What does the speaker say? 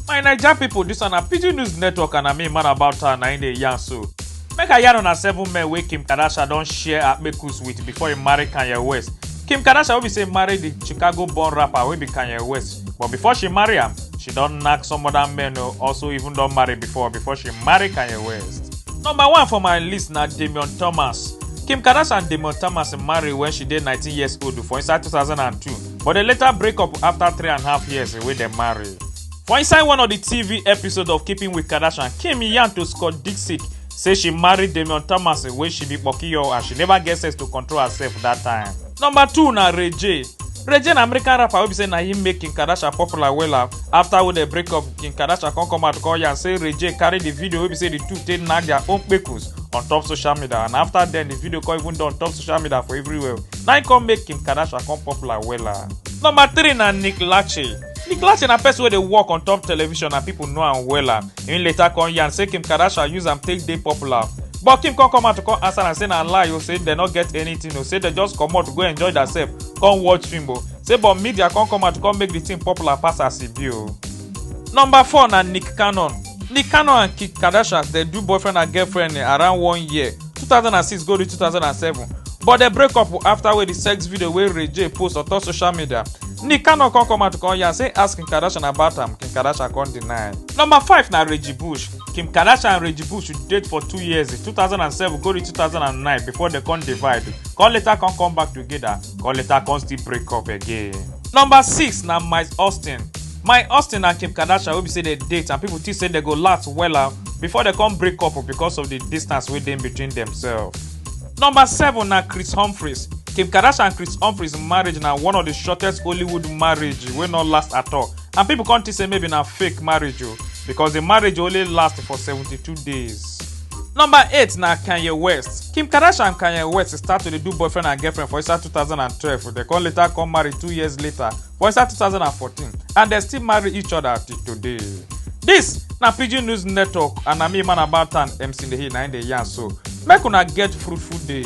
my naija pipo dis one na pidgin news network and na me man about town na im dey yarn so make i yarn una seven men wey kim kardashian don share akpekus with before e marry kanye west kim kardashian wey be say marry di chicago born rapper wey be kanye west but before she marry am she don knack some other men o also even don marry before before she marry kanye west number one for my list na damian thomas kim kardashian and damian thomas marry wen she dey 19 years old for inside 2002 but dem later break up after three and a half years wey dem marry. For inside one of di TV episode of Keeping with Kardashian, Kim yarn to Scott Disick say she marry Damian Thomas wey she be kpokiyo and she never get sense to control herself dat time. Number two na Ray J. Ray J na American rapper wey be say na him make Kim Kardashian popular wella. After wey dem break up, Kim Kardashian come come out come yarn say Ray J carry di video wey be say di two take knack their own kpekus on top social media and after den di video come even don on top social media for everywhere. na him come make kim kardashian come popular wella number three na nick lachey nick lachey na person wey dey work on top television and people know am wella him later come yarn say kim kardashian use am take dey popular but kim come come out to come answer am say na lie o say dem no get anything o say dem just comot go enjoy theirself come watch film o say but media come come out to come make the thing popular pass as e be o. number four na nick cannon nick cannon and kim kardashian dey do boyfriend and girlfriend eh, around one year 2006 go reach 2007 but dem break up after wey di sex video wey ray j post on top social media nick cannon come come out come yarn say ask kim kardashian about am kim kardashian come deny. number five na reggie bush kim kardashian and reggie bush date for two years 2007 go reach 2009 before dem come divide come later come come back together come later come still break up again. number six na mike austin my austin and kim kardashian wey be say dem date and pipo think say dem go last wella before dem come break up because of di distance wey dey between demsef. number seven na chris humphries kim kardashian and chris humphries marriage na one of di shortest hollywood marriage wey no last at all and pipo come think say maybe na fake marriage o because di marriage only last for 72 days. number eight na kanye west kim kardashian and kanye west start to dey do boyfriend and girlfriend for inside 2012 dem come later come marry two years later for inside 2014 and dem still marry each other till today. Dis na Pidgin News Network and na me man about am MC Nehi na im dey yarn so. Make una get fruitful day.